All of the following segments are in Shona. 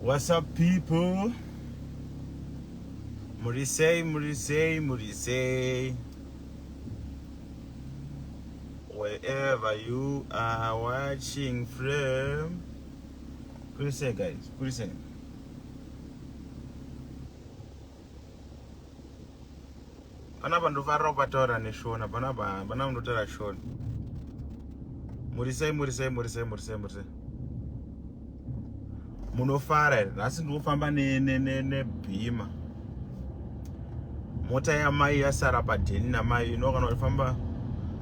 What's up people? Murisei, murisei, murisei. Wherever you are watching from. Kurisei guys, kurisei. panapa ndofarira kupataura neshona panapa panapa ndotaura shona murisei murisei murisei murisei murisei munofara here nhasi ndikufamba nebhima mota yamai yasara padheni namai ino kana uchifamba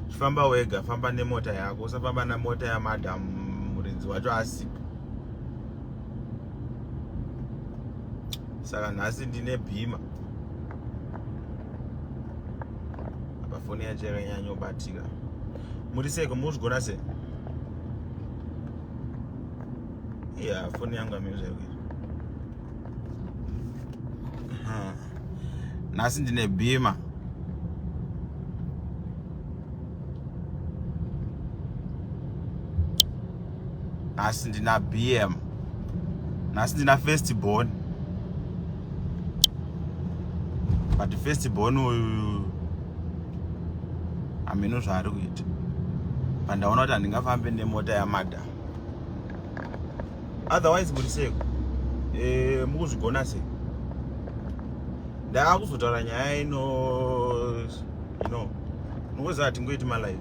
chifamba wega famba nemota yako usafamba nemota yamadam muridzi wacho asipo saka nhasi ndine bhima apa foni yacho yakanyanyobatika muri seko muzvigona se ya foni yangu amiri zvaikuita nhasi ndine bhima nhasi ndina bm nhasi ndina first born but first born uyu hameno zvaari kuita pandaona kuti handingafambe nemota yamadam otherwise muri seko eh, mukuzvigona sei ndava kuzotaura nyaya ino you know mukuziva hatingoiti malive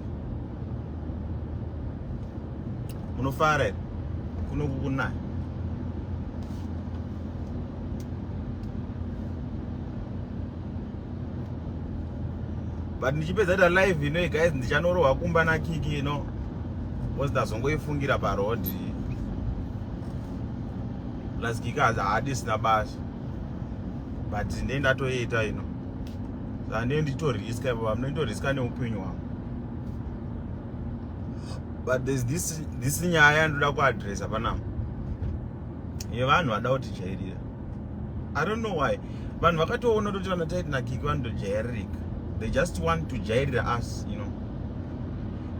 munofara here kuno kukunaya but ndichipedza ta live ino guys ndichanorohwa kumba na kiki ino because ndazongoifungira pa road plus kiki haadisina basa but ndei ndatoita ino zandei nditoriska ipo pamne nditoriska neupenyu hwangu but there's this this nyaya ndoda kuadressa panapa yevanhu vada kuti jairira i don't know why vanhu vakatoona kuti vana taiti nakiki vanotojairirika they just want to jairira us you know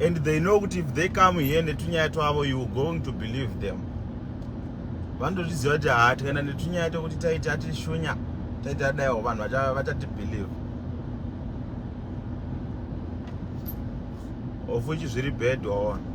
and they know kuti if they come here netunyaya twavo you going to believe them vanotozviziva kuti haa tikaenda netunyaya tokuti taiti atishunya taiti adaiwo vanhu vachatibelieve ofuchi zviri bhedwa ona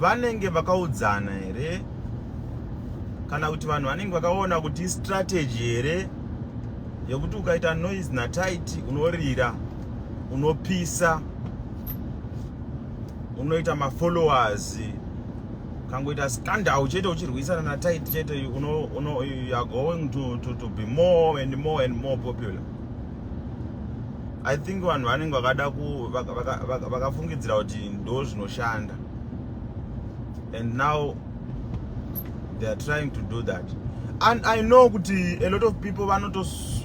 Vanenge vakaudzana here kana kuti vanhu vanenge vakaona kuti strategy here yekuti ukaita noise natight unorira unopisa unoita mafollowers kangoita scandal chete uchirwisana natight chete you are going to, to, to be more and more and more popular i think vanhu vanenge vakada vakafungidzira vaka, vaka kuti ndo zvinoshanda and now they are trying to do that and i know kuti a lot of people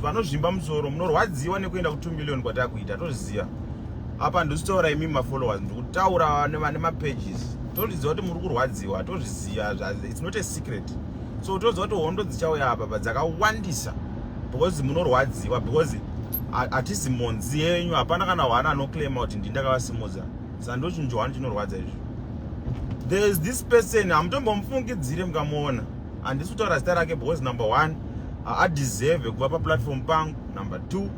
vanozvimba musoro munorwadziwa nekuenda ku2 million kwatakuita tozviziva apa ndisitaura imi mafollowers ndikutaura nevane mapages tozviziva kuti muri kurwadziwa tozviziva its not a secret so toziva kuti hondo dzichauya apa pa dzakawandisa because munorwadziwa because hatisi mhonzi yenyu hapana kana hwana anoclaima kuti ndi ndakavasimudza sa ndochinjo hwani chinorwadza izvo there is this person hamutombomufungidzire mukamuona handisi kutaura zita rake because number one adeserve kuva paplatform pangu number two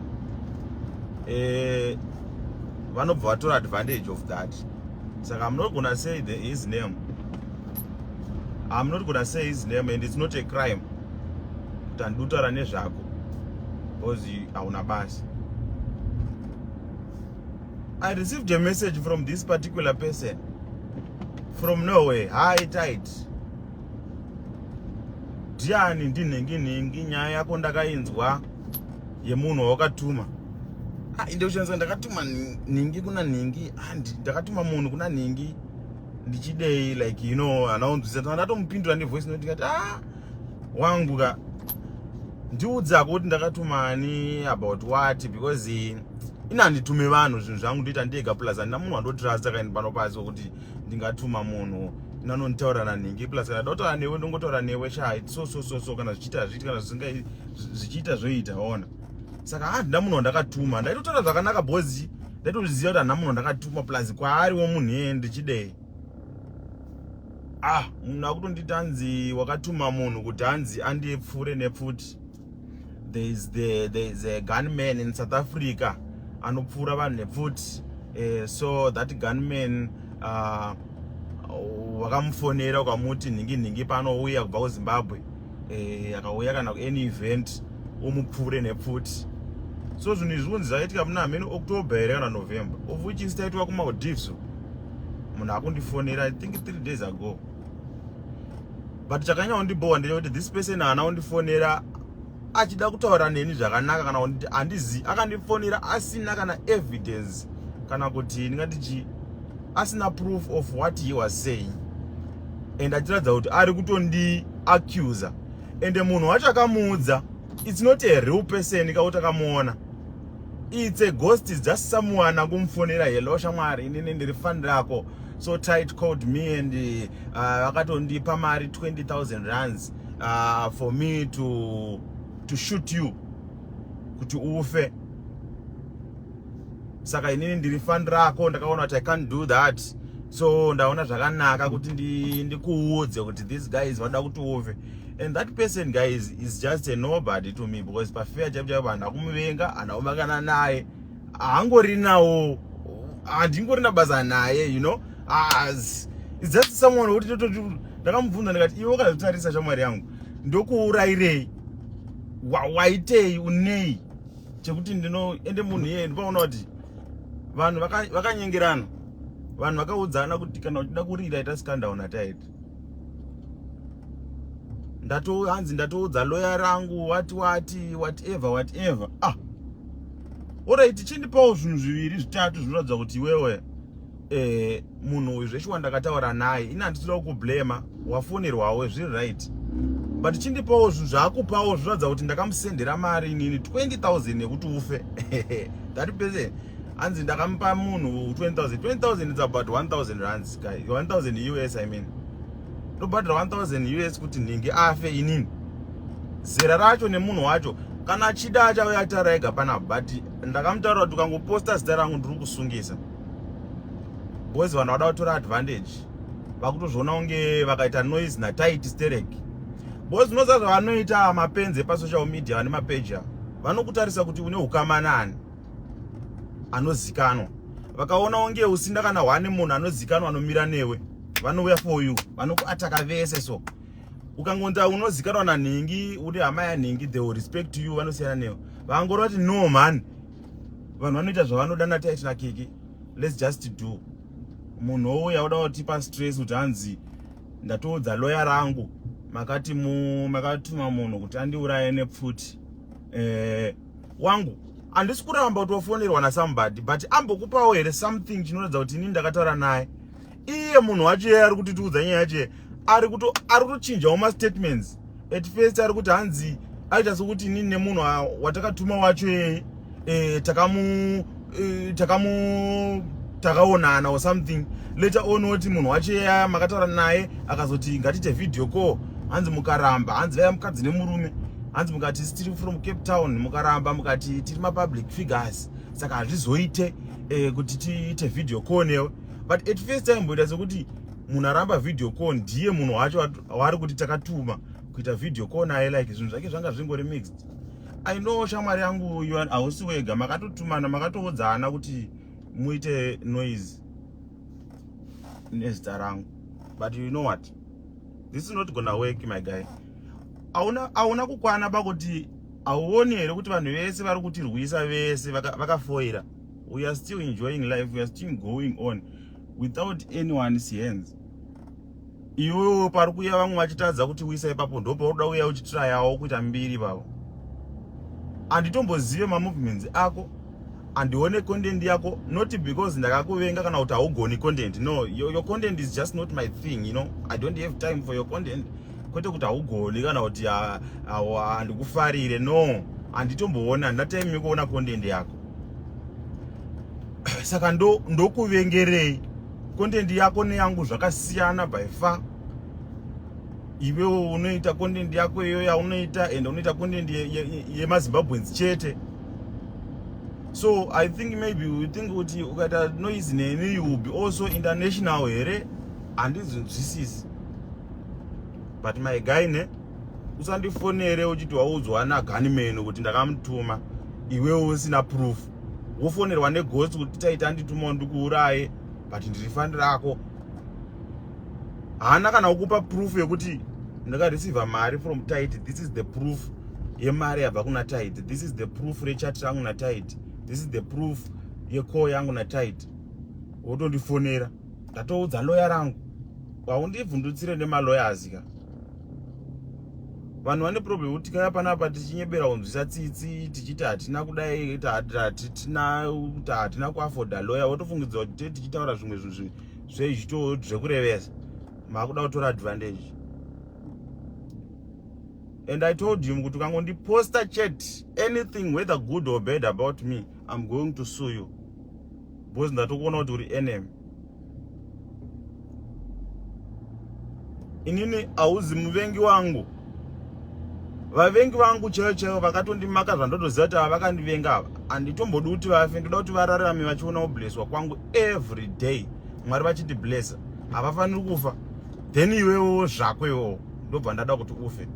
eh, vanobva vatora advantage of that saka munogona say the his name I'm not gonna say his name and it's not a crime kuti handidi kutaura nezvako because hauna basa I received a message from this particular person from Norway. Hi, tight. Diani ndinhingi nhingi nyaya yako ndakainzwa yemunhu wawakatuma. Ah, inde kushandisa ndakatuma nhingi kuna nhingi and ndakatuma munhu kuna nhingi. ndichidei like you know hana unzwisa tanga ndatomupindura nevoice note ndikati ah wangu ka ndiudzako kuti ndakatumani about what because eh, ini handitume vanhu zvinhu zvangu ndoita ndega plus handina munhu wandotrasta kaini pano pasi wekuti ndingatuma munhu nanonditaura nanhingi plus kana ndotaura newe ndongotaura newe sha so so so so kana zvichiita hazviiti kana zvisingai zvichiita zvoita ona saka handina munhu wandakatuma ndaitotaura zvakanaka bozi ndaitozviziva kuti hana munhu ndakatuma plus kwaari womunhu iyeye ndichidei ah munhu akutonditi hanzi wakatuma munhu kuti hanzi andipfuure nepfuti there is the there is a gunman in south africa anopfuura vanhu nepfuti uh, so that gunman uh, wakamufonera ukamuti nhingi nhingi panouya kubva kuzimbabwe eh, akauya kana any event umupfuure nepfuti so zvinhu izvi zvinonzi zvakaitika muna hameno october here kana november of which is taitwa kumaldives munhu akundifonera i think three days ago but chakanyanya kundibowa ndeyekuti this person haana kundifonera achida kutaura neni zvakanaka kana kuti handizi akandifonera asina kana evidence kana kuti ndingati chii asina proof of what he was saying and achiratidza kuti ari kutondi accuser and munhu wacho akamuudza it's not a real person kauti akamuona it's a ghost just someone angumufonera hello shamwari inini ndiri fan rako so tight called me and uh, vakatondipa uh, mari 20000 runs uh, for me to, to shoot you kuti ufe saka inini ndiri fan rako ndakaona kuti i can't do that so ndaona zvakanaka kuti ndikuudze ndi kuti these guys vanoda kuti uve and that person guys is just a nobody to me because pafea chaipo chaipo hana kumuvenga hana kumakana naye haangori nawo handingori nabasa naye you know as it's just someone woti tototi ndakamubvunza ndikati iwe ukazotarisa shamwari yangu ndokuurayirei waitei unei chekuti ndino ende munhu iye ndipaona kuti vanhu vakanyengerana vaka vanhu vakaudzana kuti kana uchida kurira ita scandown ataiti ndato hanzi ndatoudza loya rangu wati wati whatever whatever ah orit chindipawo zvinhu zviviri zvitatu zvinoratidza kuti iwewe eh munhu uyu zveshuwa ndakataura naye ini handisida kukublema wafonerwawo zviri right but chindipawo zvinhu zvaakupawo zviratidza kuti ndakamusendera mari inini 20000 yekuti ufe that person hanzi ndakamupa munhu 20000 20000 is about 1000 rands guy 1000 us i mean ndobhadhira 1000 us kuti nhingi afe inini zera racho nemunhu wacho kana achida achauya atara ega pana but ndakamutaura kuti ukangoposta zita rangu ndiri kusungisa boys vanhu vada kutora advantage vakutozviona kunge vakaita noise natight sterek boys unoziva zvavanoita mapenzi epasocial media vane mapeji avo vanokutarisa kuti une ukama nani anozikanwa vakaona unge usinda kana one munhu anozikanwa anomira newe vanouya for you vanokuataka vese so ukangonza unozikanwa nanhingi uri hama yanhingi the respect to you vanosiyana newe vangorova kuti no mhani vanhu vanoita zvavanoda nataitira keke let's just do munhu ouya oda kutipa stress kuti hanzi ndatoudza loya rangu makati makatuma munhu kuti andiuraye nepfuti eh, wangu handisi kuramba kuti wafonerwa nasambody but ambokupawo here something chinoratidza kuti ini ndakataura naye iye munhu wacho iye ari kutitiudza nyaya yacho ari kuto ari kutochinjawo mastatements at first ari kuti hanzi aita sokuti inini nemunhu watakatuma wacho yeye e, takamu e, takamu takaonana or something later on oti munhu wacho yeye makataura naye akazoti ngatiite video call hanzi mukaramba hanzi vaya mukadzi nemurume hanzi mukati tiri from cape town mukaramba mukati tiri mapublic figures saka hazvizoite e, kuti tiite video call newe but at first taimboita sekuti munhu aramba video call ndiye munhu wacho waari kuti takatuma kuita video call naye like zvinhu zvake zvanga zvingori mixed i know shamwari yangu you hausi wega makatotumana makatoodzana kuti muite noise nezita rangu but you know what this is not gonna work my guy hauna kukwana pakuti hauoni here kuti vanhu vese vari kutirwisa vese vakafoira vaka we are still enjoying life we are still going on without anyone's hands iwewo pari kuya vamwe vachitadza kuti uisa ipapo ndo paunoda uya uchitirayawo kuita mbiri vavo handitombozive mamovements ako handione content yako not because ndakakuvenga kana kuti haugoni content no your, your content is just not my thing you know i don't have time for your content kwete kuti haugoni kana kuti handikufarire no handitomboona handina time yekuona content yako saka ndokuvengerei ndo content yako neyangu zvakasiyana by far iwewo unoita content yako iyo yaunoita and unoita content yemazimbabweans ye, ye chete so i think maybe u think kuti ukaita noise neni you will be also international here handinzwisisi but my guy ne usandifonere uchiti waudzwa naganimeno kuti ndakamutuma iwewe usina proof wofonerwa neghost kuti taita nditumawo ndikuuraye but ndiri fani rako haana kana kukupa proof yekuti ndakareceiva mari from tit this is the proof yemari yabva kuna tit this is the proof rechat rangu natit this is the proof yecall yangu natit wotondifonera ndatoudza loya rangu haundibvundutsire nemalawyers ka vanhu vane problem yekuti kaya panapa tichinyebera kunzwisa tsitsi tichiti hatina kudai hatitina kuti hatina kuafoda loya wotofungidzwa kuti te tichitaura zvimwe zvinhu zvezvito zvekurevesa maakuda kutora advantage and i told him kuti ukangondiposta chet anything whether good or bad about me i'm going to sue you Boys ndatokuona kuti uri enemy. Inini auzi muvengi wangu. Vavengi vangu chaivo chaivo vakatondimaka zvandotoziva kuti ava vakandivenga ava. Handitombodi kuti vafe, ndoda kuti vararame vachiona kublesswa kwangu every day. Mwari vachiti blessa. Havafaniri kufa. Then iwewo zvako iwewo ndobva ndada kuti ufe.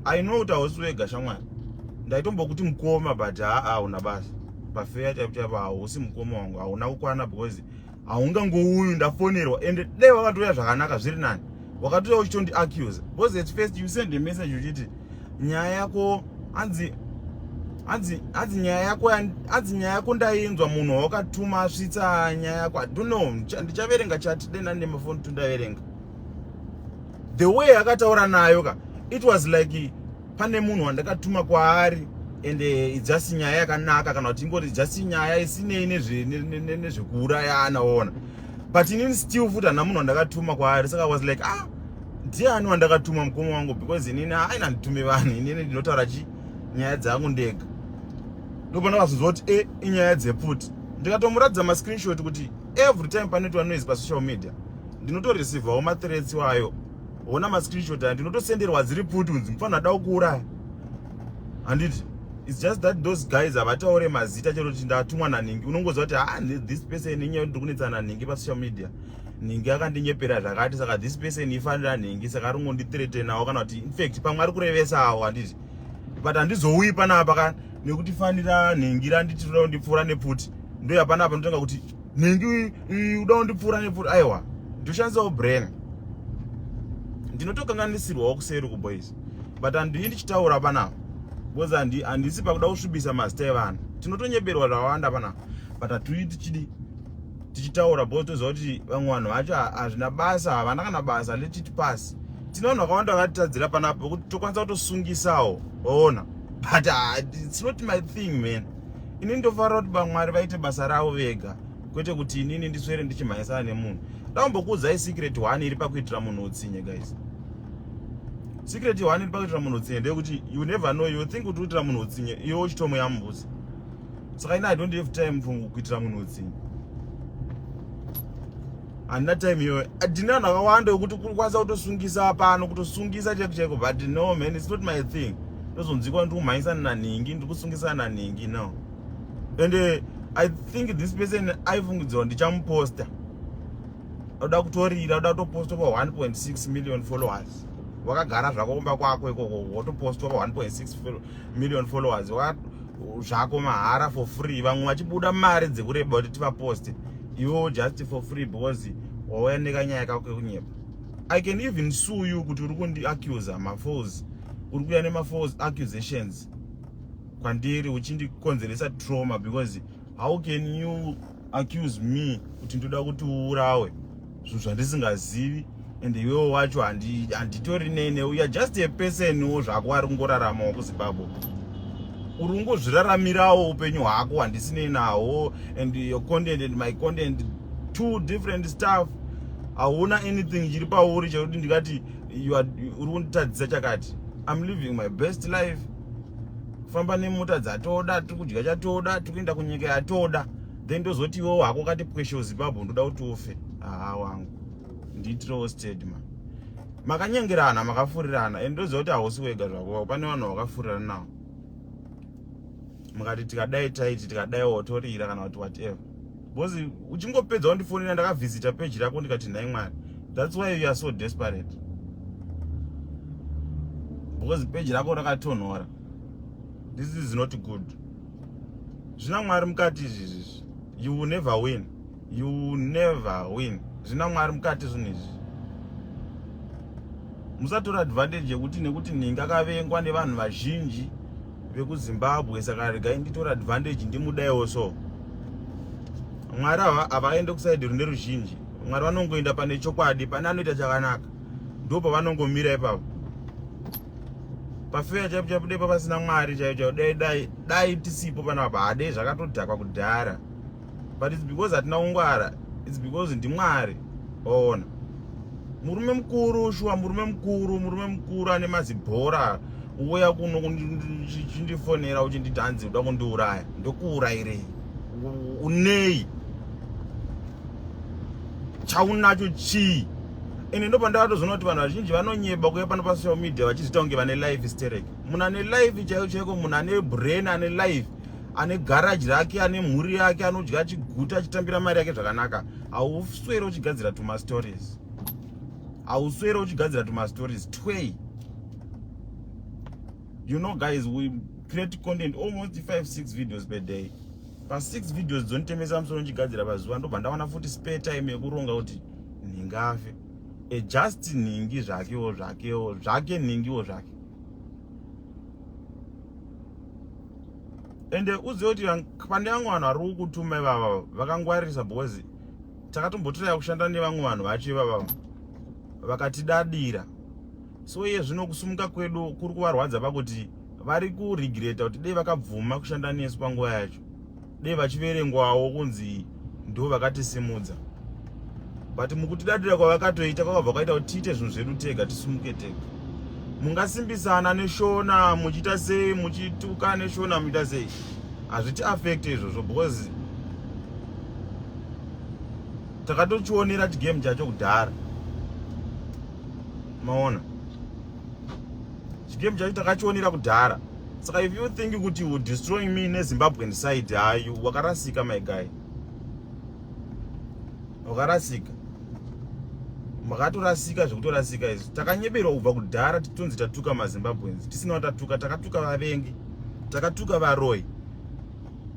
I know kuti hausi wega shamwari ndaitombokuti mukoma but haa una basa pafeya chaipo chaipo hausi mukoma wangu hauna kukwana because haungangouyu ndafonerwa ende dai wakatouya zvakanaka zviri nani wakatouya uchitondi accuse because at first you send a message uchiti nyaya yako hanzi hanzi hanzi nyaya yako hanzi nyaya yako ndainzwa munhu wawakatuma asvitsa nyaya yako i don't know ndichaverenga chati dai nani nemafoni tundaverenga the way yakataura nayo ka it was like pane munhu wandakatuma kwaari and eh, just nyaya yakanaka kana kuti ingoti just nyaya isinei nezvekuurayana ona but inini still futi hana munhu wandakatuma kwaari saka was like ah ndiani wandakatuma mukoma wangu because inini aina nditume vanhu inini ndinotaura chi nyaya dzangu ndega ndopana vazonzwa kuti e inyaya dzeputi ndikatomuratidza mascreenshot kuti every time panoitwa noise pasocial media ndinotoreceivawo mathreats wayo ona mascreenshot aya ndinotosenderwa dziri pfuti kunzi mufanira da kuuraya handiti its just that those guys havataure mazita chero kuti ndatumwa nanhingi unongoziva kuti ha ah, this person inyaya kuti ndiri kunetsana nanhingi pasocial media nhingi akandinyepera zvakati saka this person ifanira nhingi saka ari kungonditretenawo kana kuti infact pamwe ari kurevesawo handiti but handizouyi panapa ka nekuti fanira nhingi randiti roda kundipfuura nepfuti ndoya panapa ndotenga kuti nhingi uda kundipfuura nepfuura aiwa ndoshandisawo brain ndinotokanganisirwawo kuseri kuboys but handii ndichitaura panapa because handisi pakuda kusvibisa mazita evanhu tinotonyeberwa zvawanda panapa but hatui tichidi tichitaura because toziva kuti vamwe vanhu vacho hazvina basa havana kana basa letiti pasi tine vanhu vakawanda vakatitadzira panapa kuti tokwanisa kutosungisawo waona but ah, it's not my thing man ini ndofara kuti bamwari vaite basa ravo vega kwete kuti inini ndiswere ndichimhanyisana nemunhu ndaumbokuudzai secret one iri pakuitira munhu utsinye guys secret one iri pakuitira munhu utsinye ndeyekuti you never know you think kuti uitira munhu utsinye iwe uchitomo yambuzi saka ini i don't have time for kuitira munhu utsinye handina time iyoyo handina vanhu vakawanda vekuti kukwanisa kutosungisa pano kutosungisa chaiko chaiko but no man its not my thing ndozonzikwa ndiri kumhanyisana nanhingi ndiri kusungisana nanhingi no and uh, i think this person aifungidzirwa ndichamuposta oda kutorira oda kutoposta pa 1.6 million followers wakagara zvako kumba kwako ikoko wotopostwa pa 1.6 million followers zvako mahara for free vamwe vachibuda mari dzekureba kuti tivaposte iwo just for free because wauya nekanyaya kako kekunyepa i can even sue you kuti uri kundiaccusa mafos uri kuya nemafos accusations kwandiri uchindikonzeresa trauma because how can you accuse me kuti ndoda kuti uurawe zvinhu zvandisingazivi and iwewo wacho handitori nei ne uya just a person wo zvako ari kungoraramawo kuzimbabwe uri kungozviraramirawo upenyu hwako handisinei nawo and your content and my content two different stuff hauna anything chiri pauri chekuti ndikati uri kunditadzisa chakati im living my best life famba nemota dzatoda tiri kudya chatoda tiri kuenda kunyika yatoda then ndozoti iwewo hako kati pwesho zimbabwe ndoda kuti ufe haa wangu ndiitirewo stedma makanyengerana makafurirana and ndoziva kuti hausi wega zvako pane vanhu vakafurirana nawo mukati tikadai taiti tikadai wotorira kana kuti whatever because uchingopedza wandifonera ndakavhizita peji rako ndikati nhai mwari thats why you are so desperate because peji rako rakatonhora this is not good zvina mwari mukati izvi izvi you will never win you will never win zvina mwari mukati zvinhu izvi musatora advantage yekuti nekuti ninga kavengwa nevanhu vazhinji vekuzimbabwe saka regai nditora advantage ndimudaiwo so mwari ava havaende kusaidi rune ruzhinji mwari vanongoenda pane chokwadi pane anoita chakanaka ndipo pavanongomira ipapo pafeya chaipo chaipo dai papasina mwari chaipo chaipo dai dai dai tisipo pana apa hadei zvakatodhakwa kudhara but its because hatina kungwara its because ndimwari waona murume mukuru shuwa murume mukuru murume mukuru ane mazibhora uya kuno chindifonera uchinditi hanzi uda kundiuraya ndokuurayirei unei chaunacho chii ende ndo pandakatozoona kuti vanhu vazhinji vanonyeba kuya pano pasocial media vachizviita kunge vane life sterek munhu ane life chaiko chaiko munhu ane brain ane life ane garaji rake ane mhuri yake anodya achiguta achitambira mari yake zvakanaka hauswere uchigadzira tumastories hauswere uchigadzira tumastories twei you know guys we create content almost 56 videos per day pa6 videos dzonitemesa musoro ndichigadzira pazuva ndobva ndawana futi spare time yekuronga kuti nhingafe e just nhingi zvakewo zvakewo zvake nhingiwo zvake ende uzive kuti pane vamwe vanhu vari kukutuma ivava vakangwaririsa because takatombotiraya kushanda nevamwe vanhu vacho ivava vakatidadira so iye zvino kusumuka kwedu kuri kuvarwadza pakuti vari kuregreta kuti dei vakabvuma kushanda nesu panguva yacho dei vachiverengwawo kunzi ndo vakatisimudza but mukutidadira kwavakatoita kwakabva kwaita kuti tiite zvinhu zvedu tega tisumuke tega mungasimbisana neshona muchiita sei muchituka neshona muchiita sei hazviti affect izvozvo because takatochionera chigame chacho kudhara maona chigame chacho takachionera kudhara saka if you think kuti you destroying me nezimbabwean side hayu wakarasika my guy wakarasika makatorasika zvekutorasika izvi takanyeberwa kubva kudhara titonzi tatuka mazimbabweans tisina watatuka takatuka vavengi takatuka varoi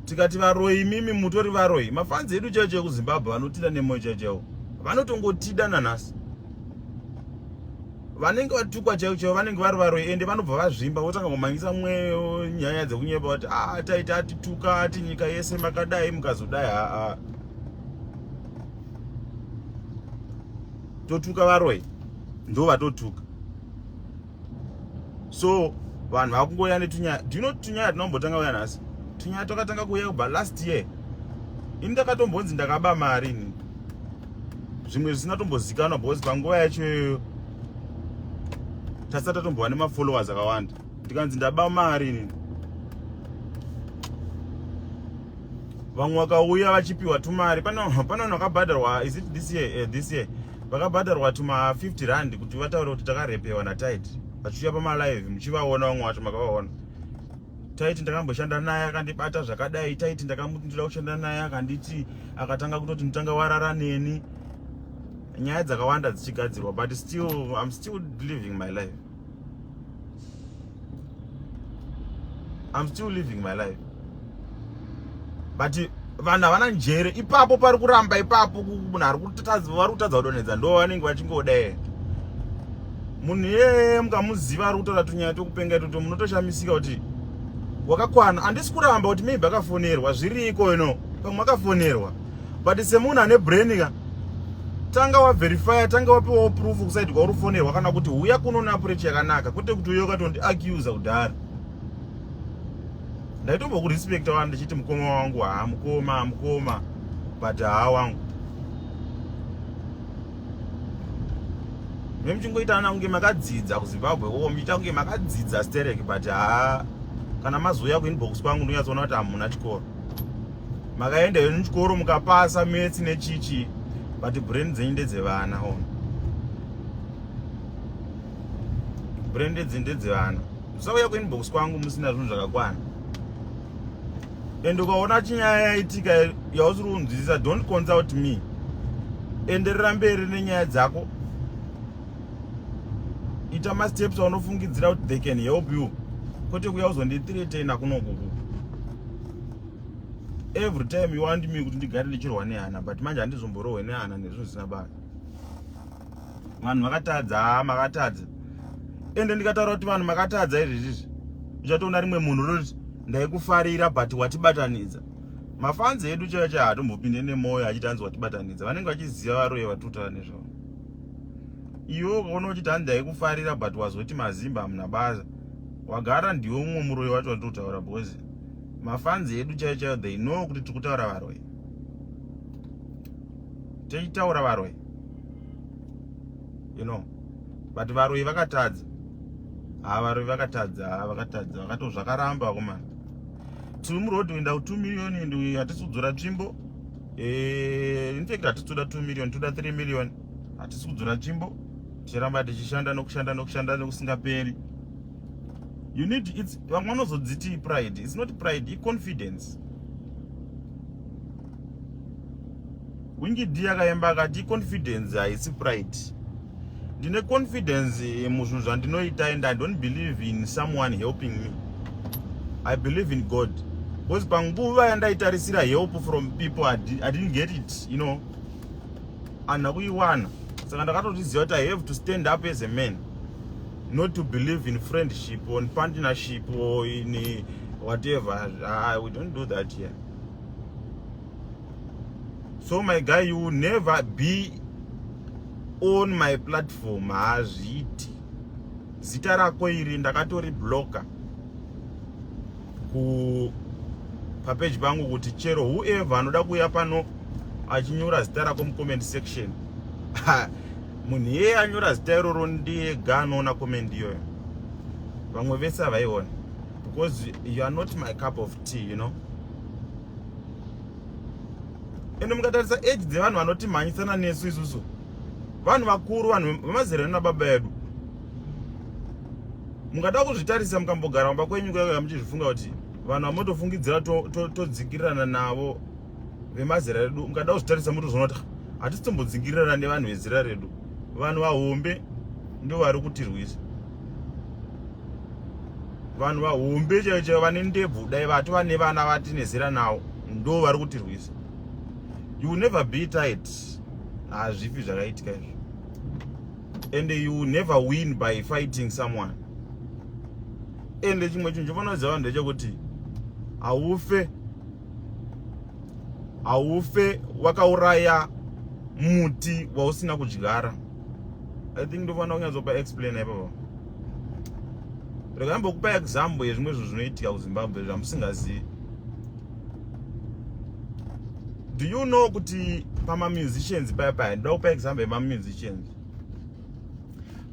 tikati varoi mimi mutori varoi mafanzi edu chaicho ekuzimbabwe vanotida nemoyo chaicho yavo vanotongotida nanhasi vanenge vatukwa chaivo chaivo vanenge vari varoyi ende vanobva vazvimba votanga kumhanyisa mweyo nyaya dzekunyepa vati a ah, taita atituka ati nyika yese makadai mukazodai haa totuka varoyi ndo vatotuka so vanhu vakungoya netunyaya do you know tunyaya tinombotanga uya nhasi tunyaya twakatanga kuuya kubva last year ini ndakatombonzi ndakaba mari ini zvimwe zvisina tombozikanwa because panguva yacho iyoyo tasati tatombova nemafollowers akawanda ndikanzi ndaba mari ini vamwe vakauya vachipiwa tumari pane vanhu vakabhadharwa is it this year uh, this year vakabhadharwa tuma 50 rand kuti vataure kuti takarepewa natid vachiuya pamalive muchivaona vamwe vacho makavaona taiti ndakamboshanda naye akandibata zvakadai taiti ndakamutindira kushanda naye akanditi akatanga kutoti nditanga warara neni nyaya dzakawanda dzichigadzirwa but still im still living my life i'm still living my life but vanhu havana njere ipapo pari kuramba ipapo munhu ari kutadza vari kutadza kudonhedza ndo vanenge vachingoda ere munhu iyeye mukamuziva ari kutaura tunyaya tokupenga itoto munotoshamisika kuti wakakwana handisi kuramba kuti maybe akafonerwa zviriko you know pamwe akafonerwa but semunhu ane brain ka tanga waverifya tanga wapiwawo proof kusaidi kwauri kufonerwa kana kuti huya kunoona pureti yakanaka kwete kuti uye ukatondiacusa kudhara ndaitombo kurespect wani ndichiti mukoma wangu haa mukoma mukoma but haa wangu me muchingoita ana kunge makadzidza kuzimbabwe oo muchiita kunge makadzidza sterek but haa kana mazouya kuinbox kwangu ndonyatsoona kuti hamuna chikoro makaenda henyu chikoro mukapasa metsi nechichi but brain dzenyu ndedzevana on brain ndedzendedzevana musauya kuinbox kwangu musina zvinhu zvakakwana and ukaona chinyaya yaitika yausiri kunzwisisa don't consult me enderera mberi nenyaya dzako ita masteps aunofungidzira kuti they can help you kwete kuya uzondithiretena kunokuku every time you want me kuti ndigare ndichirwa nehana but manje handizomborohwe nehana nezvinhu zvisina basa vanhu vakatadza haa makatadza ende ndikataura kuti vanhu makatadza izvi izvizvi uchatoona rimwe munhu roti ndaikufarira but watibatanidza mafanzi edu chaiyo chaiyo hatombopinde nemwoyo achiti hanzi watibatanidza vanenge vachiziva varoye vatutaura nezvavo iwe ukaona uchiti hanzi ndaikufarira but wazoti mazimba hamuna basa wagara ndiwe mumwe muroyi wacho wandiri kutaura because mafanzi edu chaiyo chaiyo they know kuti tiri kutaura varoyi tichitaura varoyi you know but varoyi vakatadza haa varoyi vakatadza haa vakatadza vakato zvakaramba kuma tiri muroad kuenda ku 2 million and hatisi kudzora tsvimbo eh, in fact hatisi kuda 2 million toda 3 million hatisi kudzora tsvimbo tichiramba tichishanda nokushanda nokushanda nokusingaperi you need its vamwe vanozodziti pride its not pride iconfidence wingidi yakaimba akati confidence haisi pride ndine confidence muzvinhu zvandinoita and i don't believe in someone helping me i believe in god because panguva yandaitarisira help from people i didn't get it you know andina kuiwana saka ndakatotiziva kuti i have to stand up as a man not to believe in friendship or partnership or in whatever uh, we don't do that here yeah. so my guy you will never be on my platform hazviiti zita rako iri ndakatori blocker ku papeji pangu kuti chero whoever anoda kuuya pano achinyora zita rako mucomment section munhu iyeye anyora zita iroro ndiyega anoona comment iyoyo vamwe vese havaiona because you are not my cup of tea you know ende mukatarisa age dzevanhu vanotimhanyisana nesu isusu vanhu vakuru vanhu vemazera edu nababa edu mungada kuzvitarisa mukambogara mumba kwenyu kuya muchizvifunga kuti vanhu vamotofungidzira todzikirirana to, to navo vemazera redu mukada kuzvitarisa motozvona kuti hatisitombodzikirirana nevanhu vezera redu vanhu vahombe ndo vari kutirwisa vanhu vahombe chaivo chaivo vane ndebvu dai vati vane vana vati nezera nawo ndo vari kutirwisa you never be tight hazvipi zvakaitika izvo and you never win by fighting someone ende chimwe chinhu chofanira kuziva vanhu ndechekuti haufe haufe wakauraya muti wausina kudyara i think ndofanira kunyatsopa explain ipapa rega ambokupa example yezvimwe zvinhu zvinoitika kuzimbabwe zvamusingazivi do you know kuti pamamusicians paya paya ndoda kupa example yemamusicians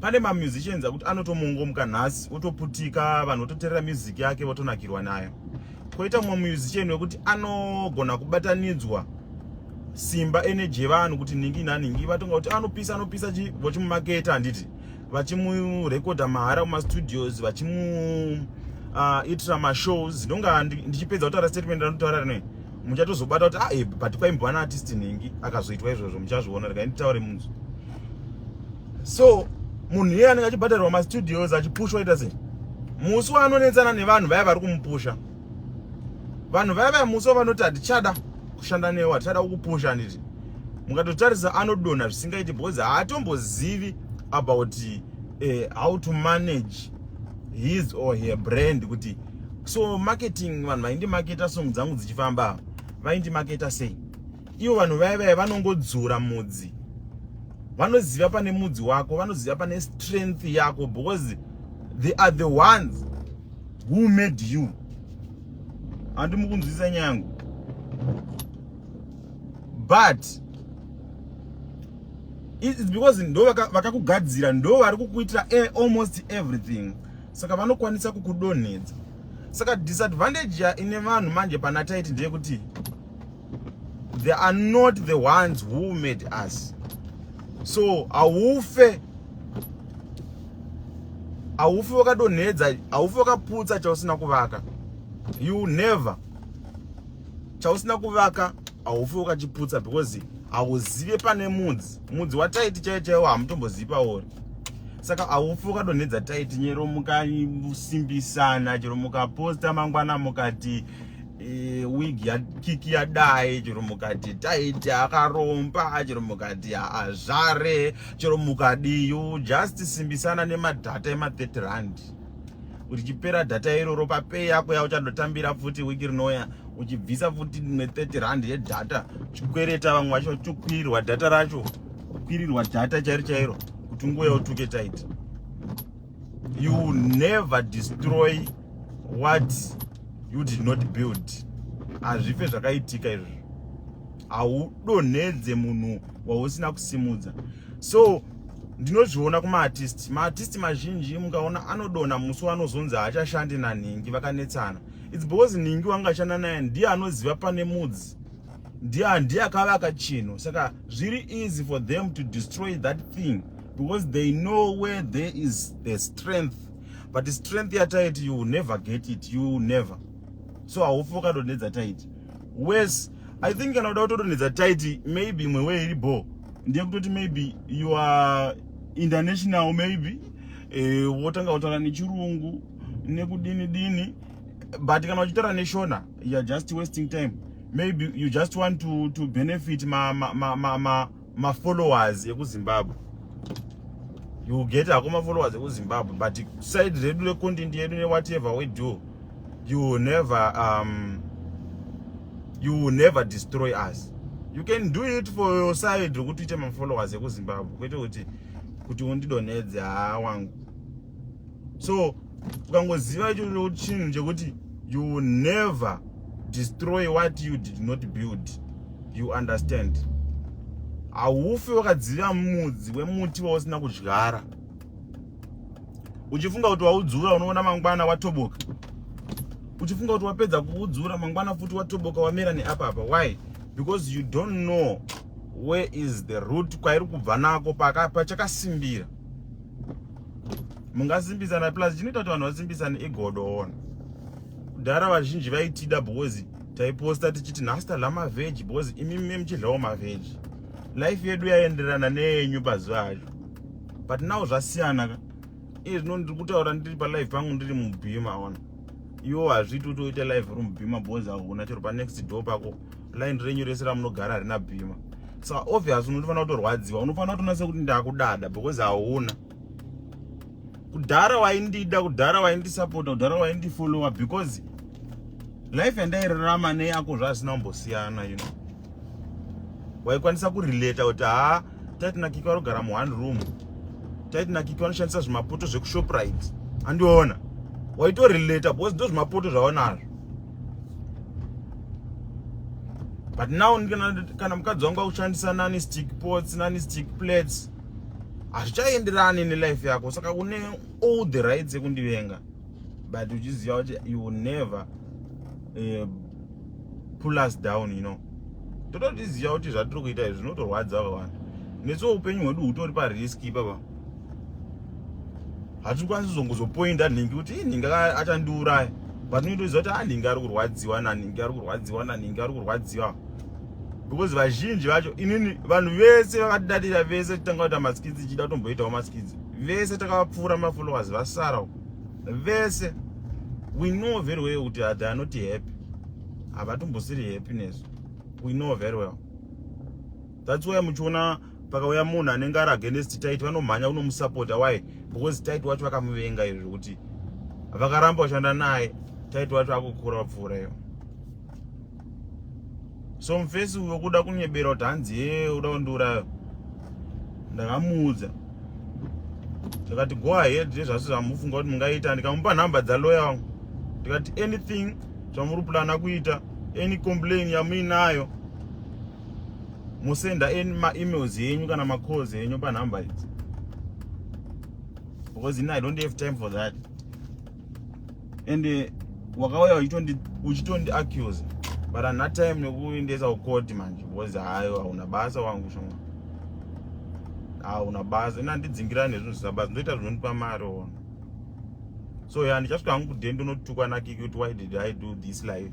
pane mamusicians akuti anotomongomuka nhasi otoputika vanhu vototerera music yake votonakirwa nayo koita mumwe musician wekuti anogona kubatanidzwa simba energy yevanhu kuti ningi nanhingi vatonga kuti anopisa anopisa chi vochimumaketa handiti vachimurekodha mahara kumastudios vachimu uh, itira mashows ndonga ndichipedza kutaura statement ranotaura rinoe muchatozobata kuti ae ah, but paimbwa naartist nhingi akazoitwa izvozvo muchazviona rekai nditaure munzwi so munhu iye anenge achibhadharirwa mastudios achipushwa ita sei musi waanonetsana nevanhu vaya vari kumupusha vanhu vaya vaya musi wavanoti hatichada kushanda newe hatichada kukupusha handiti mukatotarisa anodonha zvisingaiti because haatombozivi about uh, how to manage his or her brand kuti so marketing vanhu vaindi maketa song dzangu dzichifamba vaindi maketa sei Ivo vanhu vaya vaya vanongodzura mudzi. Vanoziva pane mudzi wako, vanoziva pane strength yako because they are the ones who made you. Handi mukunzwisa nyangu. But it's because ndo vakakugadzira ndo vari kukuitira e, almost everything saka vanokwanisa kukudonhedza saka disadvantage ine vanhu manje pana taiti ndeyekuti they are not the ones who made us so haufe haufi wakadonhedza haufi wakaputsa chausina kuvaka you never chausina kuvaka haufi wakachiputsa because hauzive pane mudzi mudzi wataiti chaiyo chaiwo hamutombozivi paori saka haufi wakadonhedza taiti nyero mukasimbisana chero mukaposta mangwana mukati e, wig yakiki yadai chero mukati taiti akaromba chero mukati azvare chero mukadi you just simbisana nemadhata ema 30 rand richipera dhata iroro papei yako yauchandotambira futi wiki rinouya uchibvisa futi ne30 rand yedhata chikwereta vamwe vacho chokwirirwa dhata racho kwirirwa dhata chairo chairo kuti unguya utuke taiti you will never destroy what you did not build hazvife zvakaitika izvi haudonhedze munhu wausina kusimudza so ndinozviona kumaartist maartist mazhinji mungaona anodona musi wanozonzi haachashandi nanhingi vakanetsana its because nhingi wangashanda naye ndiye anoziva pane mudzi ndiye handiye akavaka chinhu saka zviri easy for them to destroy that thing because they know where there is the strength but strength yataiti you never get it you never so haufi wakadonhedza taiti wes i think kana uda kutodonhedza taiti maybe imwe wee iri bho ndiye kutoti maybe you are international maybe eh, wotanga kutaura nechirungu nekudini dini but kana uchitaura neshona you're just wasting time maybe you just want to, to benefit mafollowers ma, ma, ma, ma, ma ekuzimbabwe you get hako mafollowers ekuzimbabwe but side redu recontent yedu newhatever we do you will never um, you will never destroy us you can do it for your side rekuti uite mafollowers ekuzimbabwe kwete kuti kuti undidonhedze haa wangu so ukangoziva icho chinhu chekuti you will never destroy what you did not build you understand haufi wakadziva mudzi wemuti wausina kudyara uchifunga kuti waudzura unoona mangwana watoboka uchifunga kuti wapedza kuudzura mangwana futi watoboka wamera neapapa why because you don't know where is the root kwairi kubva nako pachakasimbira pa mungasimbisana plus chinoita kuti vanhu vasimbisane igodo ona kudhara vazhinji vaitida because taiposta tichiti nhasi tadla mavheji because imimi muchidlawo mavheji life yedu yaenderana neyenyu pazuva acho but now zvasiyana ka iye zvino ndiri kutaura ndiri palife pangu ndiri mubhima ona iwo hazviti utoita live room bhima bhozi ahuna chero panext door pako line renyu rese ramunogara harina bhima so obvious unotofanira kutorwadziwa unofanira kutonasa kuti ndakudada because hauna kudhara waindida kudhara waindisapota kudhara waindifollowa because life yandairarama neyako zvaasina kumbosiyana you know waikwanisa kurelata kuti haa taiti nakiki vari kugara mu one room taiti nakiki vanoshandisa zvimapoto zvekushoprite andiona waitorelata because ndo zvimapoto zvaonazvo but now kana mukadzi wangu akushandisa nani stick pots nani stick plates hazvichaenderani nelife yako saka une all the rights yekundivenga but uchiziva kuti you will never uh, pull us down you know tototiziva kuti zvatiri kuita izvi zvinotorwadza vavanhu nesuwo upenyu hwedu hutori parisk ipapa hatikwanisi zongozopoinda nhingi kuti i nhingi achandiuraya but unotoziva kuti anhingi ah, ari kurwadziwa nanhingi ari kurwadziwa nanhingi ari kurwadziwa because vazhinji vacho inini vanhu vese vakatidatira vese titanga kuita maskidzi ichida kutomboitawo maskidzi vese takavapfuura mafollowers vasara uko vese we know very well kuti they are not happy havatombosiri happy nesu we know very well that's why muchiona pakauya munhu anenge ari against tit vanomhanya unomusapota why because tit wacho vakamuvenga izvi zvekuti vakaramba kushanda naye tit wacho akukura vapfuura iyo so mufesi uyo kuda kunyebera kuti hanzi hee uda kundiuraya ndakamuudza ndikati go ahead nezvasi zvamufunga kuti mungaita ndikamupa nhamba dzaloya wangu ndikati anything zvamuri plana kuita any complain yamuinayo musenda any maemails yenyu kana macalls yenyu panhamba idzi because ini i don't have time for that ende wakauya uchitondi accuse but ana time nekuendesa kukoti manje bcause hayo hauna basa wangu shoma hauna basa ina ndidzingirani nezvinhu zvisina basa ndoita zvinondipa mari ona so ya ndichasvika hangu kude ndonotukwa nakiki kuti why did i do this life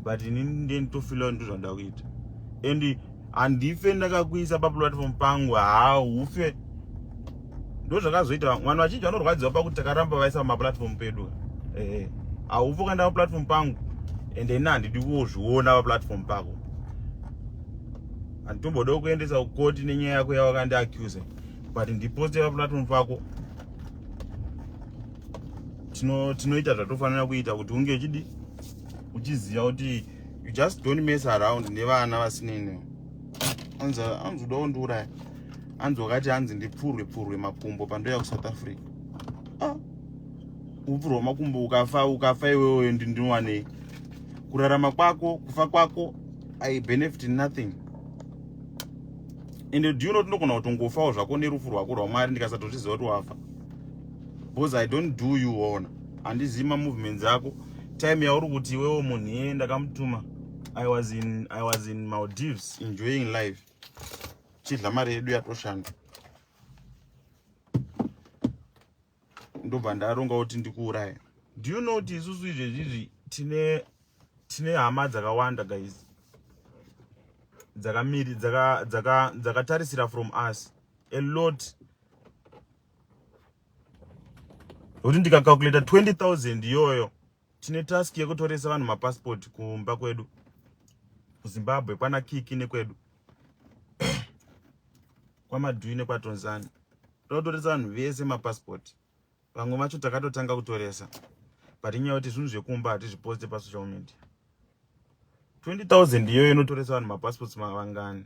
but ini ndenditofila ndozvandakuita and handife ndakakuisa paplatform pangu haa ufe ndozvakazoita vanhu vachinji vanorwadziwa pakuti takaramba vaisa pamaplatform pedu ehe haufe ukaenda paplatform pangu and ini handidi kuzviona paplatform pako handitombode kuendesa kukoti nenyaya yako yawakandi accuse but ndiposte paplatform pako tinoita tino zvatofanira kuita kuti unge uchidi uchiziva kuti you just don't mess around nevana vasinini anzi uda kundiuraya anzi wakati anzi ndipfurwe pfurwe makumbo pandoya kusouth africa ah. upfurwa makumbo ukafa ukafa iwewe ndinowanei kurarama kwako kufa kwako i benefit nothing ende do you not ndogona kutongofawo zvako nerufu rwako rwamwari ndikasatozviziva kuti wafa because i don't do you ona handizivi mamovements ako time yauri kuti iwewo munhu iye ndakamutuma i was in i was in maldives enjoying life chidla mari yedu yatoshanda ndobva ndaronga kuti ndikuuraya do you know kuti isusu izvezvizvi tine tine hama dzakawanda guys dzakamiri dzakatarisira dzaka, dzaka from us a lot kuti ndikacalculata 20000 iyoyo tine task yekutoresa vanhu mapassport kumba kwedu kuzimbabwe kwana kiki nekwedu kwamadui nekwatonzani totoresa vanhu vese mapassport vamwe vacho takatotanga kutoresa but inyaya kuti zvinhu zvekumba hatizviposte pasocial media 20000 iyoyo inotoresa vanhu mapassports mavangani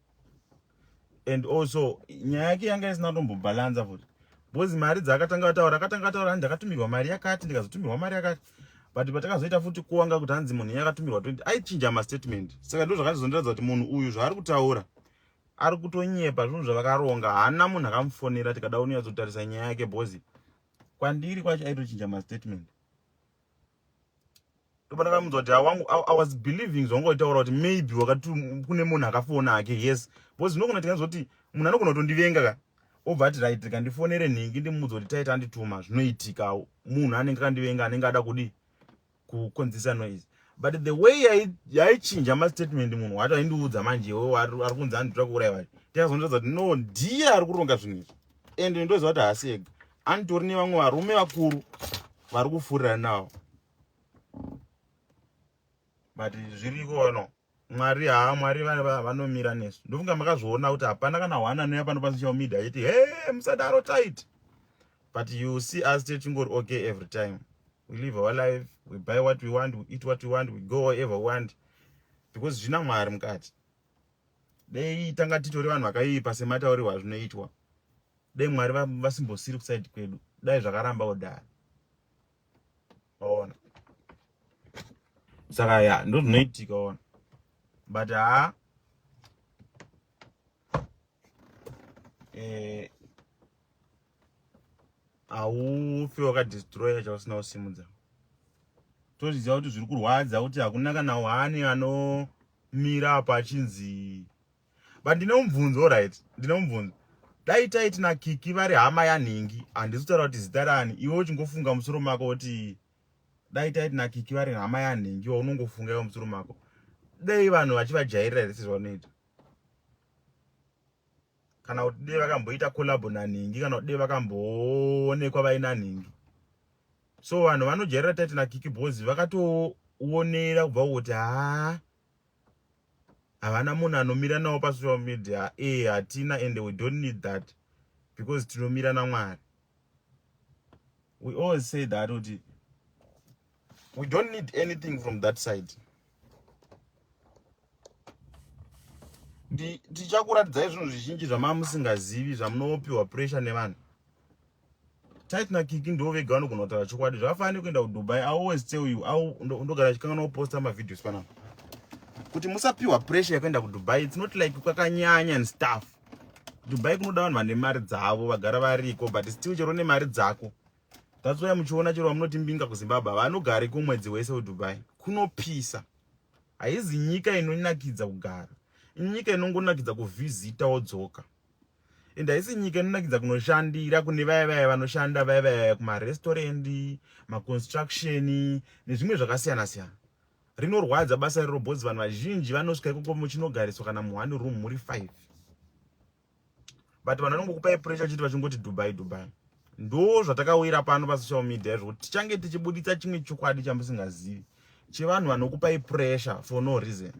and also nyaya yake yanga isina kutombobhalanza futi because mari dzaakatanga ataura akatanga ataura hanzi ndakatumirwa mari yakati ndikazotumirwa mari yakati but patakazoita futi kuwanga kuti hanzi munhu iye akatumirwa 20 aichinja mastatement saka ndo zvakazondiratidza kuti munhu uyu zvaari kutaura ari kutonyepa zvinhu zvavakaronga haana munhu akamufonera tikada unoyatsotarisa nyaya yake because kwandiri kwacho aitochinja mastatement ndopana kamunzwa kuti awangu i was believing zvawanga utaura kuti maybe wakati kune munhu akafona hake yes because ndinogona tinganzi kuti munhu anogona kutondivenga ka obva ati right rika ndifonere nhingi ndimudza kuti taita andituma zvinoitikawo munhu anenge akandivenga anenge ada kudi kukonzisa noise but the way yaichinja mastatement munhu wacho aindiudza manje iwe ari kunzi anditoda kuuraya vacho tikazonotaza kuti no ndiye ari kuronga zvinhu izvi and ndoziva kuti haasi ega Anditori nevamwe varume vakuru vari kufurira nawo but zviriko no mwari haa mwari vanomira nesu ndofunga makazviona kuti hapana kana one anouya pano pasocial media achiti he musadaro tight but you see us tichingori okay every time we live our life we buy what we want we eat what we want we go wherever we want because zvina mwari mukati dei tanga titori vanhu vakaipa semataurirwa azvinoitwa dei mwari vasimbosiri kusaidi kwedu dai zvakaramba kudhara ona saka ya ndo zvinoitika ona but haa eh, haufi wakadestroya chausina kusimudza tozviziva kuti zviri kurwadza kuti hakuna kana wani anomira apa achinzi but ndine mubvunzo right ndine mubvunzo dai taiti nakiki vari hama yanhingi handisi kutaura kuti zita rani iwe uchingofunga musoro mako kuti dai taiti nakiki vari hama yanhingi wa unongofunga iwe musoro mako dai vanhu vachivajairira here sezvavanoita kana kuti dei vakamboita collabo nanhingi kana kuti dei vakamboonekwa vaina nhingi so vanhu vanojairira tate nakiki bhozi vakatoonera kubva kuti haa havana munhu anomira nawo pasocial media e hatina and we don't need that because tinomira namwari we always say that kuti we don't need anything from that side tichakuratidzai zvinhu zvizhinji zvamava musingazivi zvamunopiwa pressure nevanhu tit nakiki ndo vega vanogona kutaura chokwadi zvakafanira nekuenda kudubai i always tell you ndogara chikanganwa kuposta mavideos panapa kuti musapiwa pressure yekuenda kudubai its not like kwakanyanya and stuff dubai kunoda vanhu vane mari dzavo vagara variko but still chero nemari dzako That's why muchiona chero vamunoti mbinga kuZimbabwe vanogare kumwedzi wese weDubai kunopisa. Haizi nyika inonakidza kugara. Inyika inongonakidza kuvhizita wodzoka. And haisi nyika inonakidza kunoshandira kune vaya vaya vanoshanda vaya vaya kumarestaurant, maconstruction nezvimwe zvakasiyana siyana. Rinorwadza basa rero bhozi vanhu vazhinji vanosvika ikoko muchinogariswa kana muone room muri 5. but vanhu vanongokupai pressure chiti vachingoti dubai dubai ndo zvatakawira pano pasocial media zvekuti tichange tichibuditsa chimwe chokwadi chamusingazivi chevanhu vanokupai pressure for no reason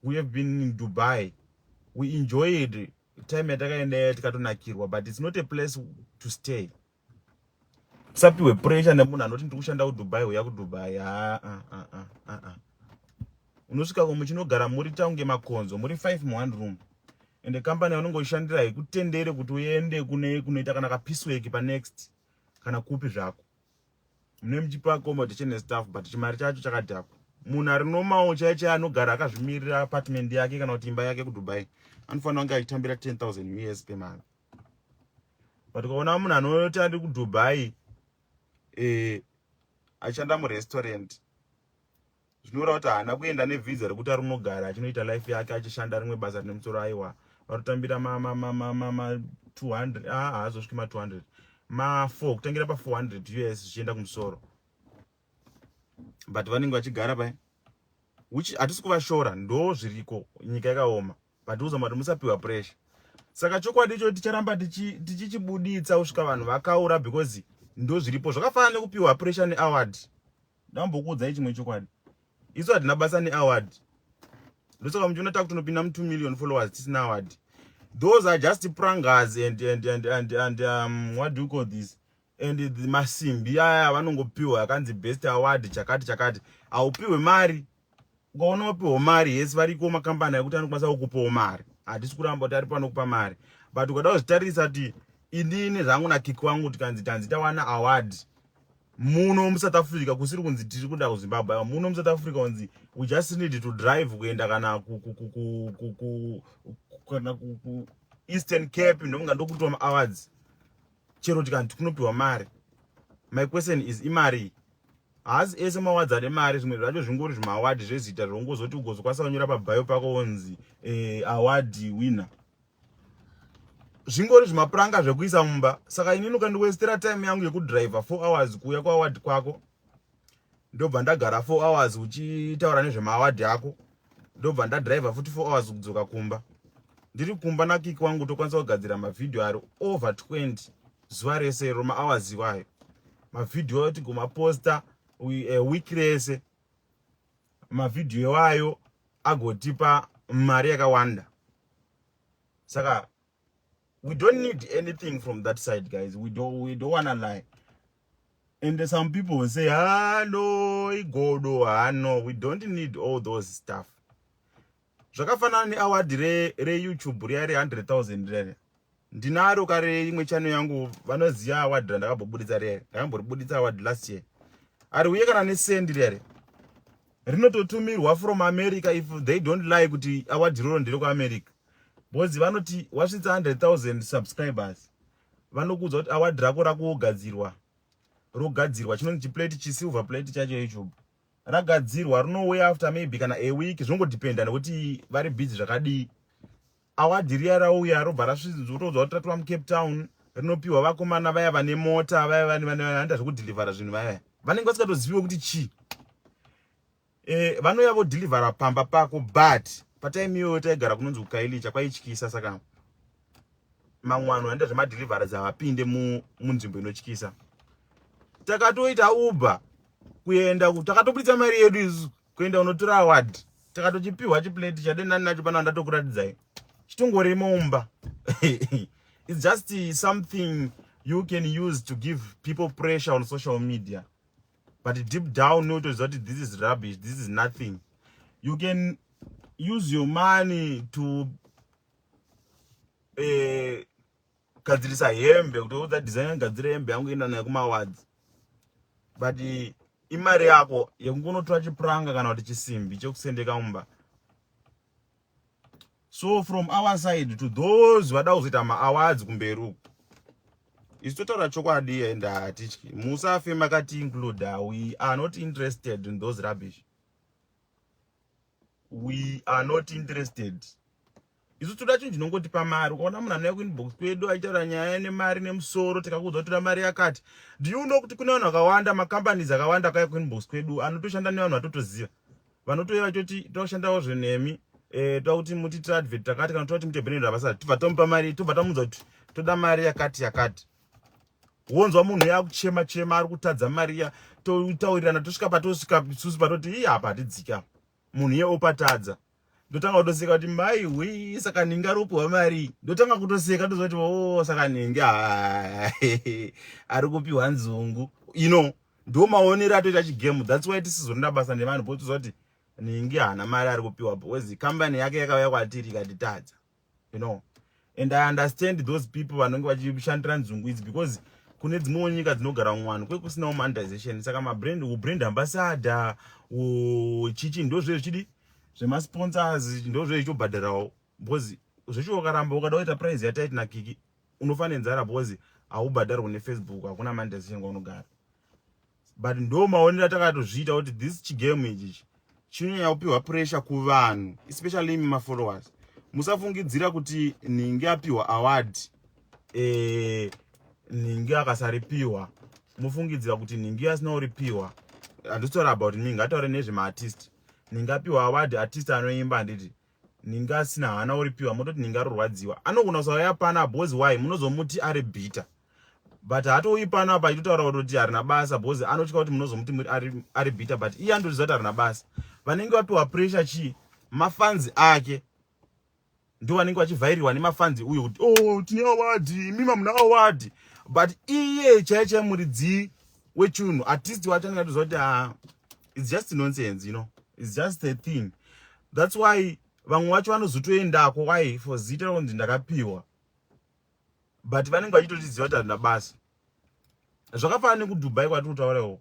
we have been in dubai we enjoyed time yatakaendayo tikatonakirwa but it's not a place to stay Usapihwe pressure nemunhu anoti ndiri kushanda kuDubai uya kuDubai. Haa ah, ah, ah, ah, ah. Unosvika ko muchinogara muri taunge makonzo, muri five mu one room. Ende company yaunenge uchishandira haikutendere kuti uende kune kunoita kana kapisweki pa next kana kupi zvako. Mune muchipa accommodation nestaff but chimari chacho chakadhakwa. Munhu ari normal chaiye chaiye anogara akazvimirira apartment yake kana kuti imba yake kuDubai anofanira kunge achitambira 10,000 US pemari. but ukaona munhu anoti andi kudubai eh, achishanda murestaurant zvinoreva kuti haana kuenda nevhiza rekuti ari unogara achinoita life yake achishanda rimwe basa rine musoro aiwa vanotambira ma200 ah, haazosviki ma200 ma4 kutangira pa400 us zvichienda kumusoro but vanenge vachigara pai which hatisi kuvashora ndo zviriko nyika yakaoma matiuza mati musapiwa pressure saka chokwadi icho ticharamba tichichibuditsa kusvika vanhu vakaura because ndo zviripo zvakafanana nekupiwa pressure neaward ndambokuudzai chimwe chokwadi isu hatina basa neaward ndosaka muchiona taku tinopinda mu 2 million followers tisina award those are just prangers and, and, and, and, and um, what do you call this and masimbi aya vanongopiwa akanzi best award chakati chakati haupiwe mari ukaona wapiwa mari yes variko makambani akuti anokwanisa kukupawo mari hatisi kuramba kuti ari panokupa mari but ukada kuzvitarisa kuti inini zvangu nakiki wangu tikanzi tanzi tawana award muno musouth africa kusiri kunzi tiri kuda kuzimbabwe muno musouth africa kunzi we just need to drive kuenda kana kana kueastern cape ndokunga ndokuitwa maawards chero tikanti kunopiwa mari my question is imari haasi ese mawadzi ane mari zvimwe zvacho zvingori zvimawadhi zvezita zvaungozoti ugozokwanisa kunyora pabhayo pako wonzi eh, awadhi wina zvingori zvimapuranga zvekuisa mumba saka inini ukandiwestera time yangu yekudriver four hours kuuya kuawadhi kwako ndobva ndagara four hours uchitaura nezvemaawadhi ako ndobva ndadriver futi four hours kudzoka kumba ndiri kumba nakiki wangu tokwanisa kugadzira mavhidhiyo ari over 20 zuva rese iro mahours iwayo mavhidhiyo tigomaposta eh, week rese mavhidhiyo iwayo agotipa mari yakawanda saka we don't need anything from that side guys we don't, we don't wanna lie and some people will say hano ah, igodo hano ah, we don't need all those stuff zvakafanana neaward re re youtube riya re 100000 rere ndinaro kare imwe channel yangu vanoziva award randakambobuditsa rere ndakamboribuditsa award last year ari uye kana nesendi rere rinototumirwa from america if they don't lie kuti award roro ndiri kuamerica because vanoti wasvitsa 100000 subscribers vanokuudza kuti award rako rakugadzirwa rogadzirwa chinonzi chiplate chisilver plate chacho youtube ragadzirwa rinouya after maybe kana a week zvongodependa nekuti vari busy zvakadii awadi riya rauya robva rasvizotoudzwa kuti ratova mucape town rinopiwa vakomana vaya vane mota vaya vanoita zvekudhilivhara zvinhu vaya vanenge vasingatoziviwo kuti chii e, vanouya vodhilivhara pamba pako but pataimi iyoyo taigara kunonzi kukailicha kwaityisa saka mamwe vanhu vanoita zvemadeliverance havapinde munzvimbo inotyisa takatoita uber kuenda takatobuditsa mari yedu isu kuenda unotora award takatochipiwa chiplate chade nani nacho pana ndatokuratidzai chitongori mumba its just something you can use to give people pressure on social media but deep down unotoziva kuti this is rubbish this is nothing you can use your money to eh, gadzirisa hembe kutoudza designer gadzira hembe yangu enda nayo kumawards but imari yako yekungonotora chipuranga kana kuti chisimbi chekusendeka mumba so from our side to those vada kuzoita maawards kumberi uku isu totaura chokwadi and hatityi musafe makati include we are not interested in those rubbish we are not interested isu toda chinhu chinongotipa mari ukaona munhu anouya kuinbox kwedu achitaura nyaya nemari nemusoro tikakuudza kutoda mari yakati do you know kuti kune vanhu vakawanda macompanies akawanda akauya kuinbox kwedu anotoshanda nevanhu vatotoziva vanotouya vachoti toshandawo zvenemi eh, toda kuti mutiitira advert takati kana toda kuti mutebhenero havasati tobva tomupa mari tobva tamuudza kuti toda mari yakati yakati wonzwa munhu uya akuchema chema ari kutadza mari iya totaurirana tosvika patosvika isusu patoti ii apa hatidzika munhu iye opatadza ndotanga kutoseka kuti mai hwii saka ninge aropiwa mari ndotanga kutoseka ndozoti o oh, saka ninge ari kupiwa nzungu you know ndo maonero atoita chigemu thats why tisizonoda basa nevanhu potizoa kuti ninge haana mari ari kupiwa wezi kambani yake yakauya kwatiri ikatitadza you know and i understand those people vanenge vachishandira nzungu idzi because kune dzimwewo nyika dzinogara mumwano kwe kusinawo monetization saka mabrand ubrand ambassador uchichi ndozve zvichidi zvemasponsors ndozve zvichobhadharawo because zvecho ukaramba ukada kuita prize yataiti nakiki unofa nenzara because haubhadharwe nefacebook hakuna monetization kwaunogara but ndo maonero atakatozviita kuti this chigame ichichi chinonyanya kupiwa pressure kuvanhu especially imi mafollowers musafungidzira kuti nhingi apiwa award eh, nhingi akasaripiwa mofungidzira kuti nhingi asina uripiwa handitaura about me ngataure nezvemaartist nhingi apiwa award artist anoimba handiti ninga asina hana oripiwa mototi ninga arorwadziwa anogona kusauya pano apa bhozi why munozomuti ari bhita but hatouyi pano apa achitotaura kutoti harina basa bhozi anotya kuti munozomuti ari bhita but iye anotozviziva kuti harina basa vanenge vapiwa pressure chii mafanzi ake ndo vanenge vachivhairirwa nemafanzi uyo kuti oh tine awadi imi mamuna awadi but iye chaiye chaiye muridzi wechunhu artist wacho anenge atoziva kuti ah, it's just nonsense you know it's just a thing that's why vamwe vacho vanozotoendako why for zita rakunzi ndakapiwa but vanenge vachitotiziva kuti handina basa zvakafana nekudubai kwatiri kutaura iwo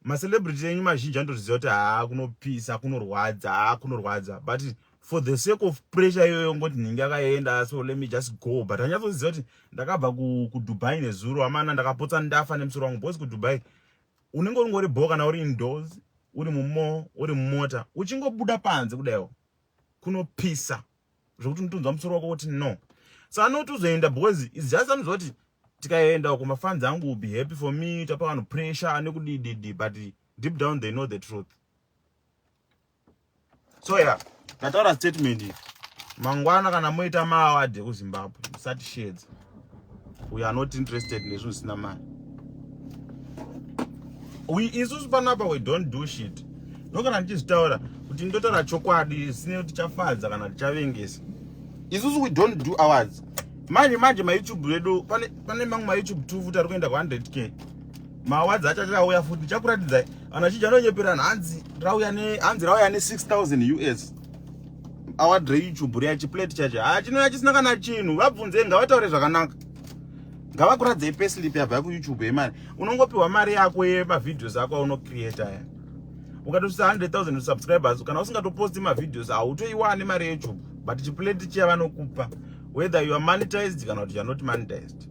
macelebrity enyu mazhinji anotoziva kuti haa kunopisa kunorwadza haa kunorwadza but for the sake of pressure iyoyo ngoti nhingi akaenda so let me just go but anyatsoziva kuti ndakabva kudubai nezuro amana ndakapotsa ndafa nemusoro wangu bcause kudubai unenge ungori bho kana uri indoors uri mumo uri mumota uchingobuda panze kudaiwo kunopisa zvekuti unotonzwa musoro wako kuti no so anoti uzoenda because is just anoziva kuti tikaenda uko mafanzi angu will be happy for me tapa vanhu pressure nekudididi but deep down they know the truth so ya ndataura statement iyi mangwana kana moita maawadi ekuzimbabwe musatishedza we are not interested nezvinhu zvisina mari we isusu panapa we don't do shit ndokana ndichizvitaura kuti ndotaura chokwadi zvisine kuti chafadza kana tichavengesa isusu we don't do awards manje manje mayoutube redu pane, pane mamwe mayoutube two futi ari kuenda ku 100 k maawards acho achauya futi ndichakuratidzai Ana chija anonyeperana hanzi rauya ne hanzi rauya ne 6000 US. Awa dre YouTube riya chi plate chacho. Ah chinouya chisina kana chinhu. Vabvunze ngavataure zvakanaka. Ngavakuradze pay slip yabva ku YouTube yemari. Unongopiwa mari yako ye ma videos ako uno create aya. Ukatosvitsa 100,000 subscribers kana usingatoposti ma videos hautoiwane mari ye YouTube. But chi plate chiya vanokupa whether you are monetized kana kuti you are not monetized.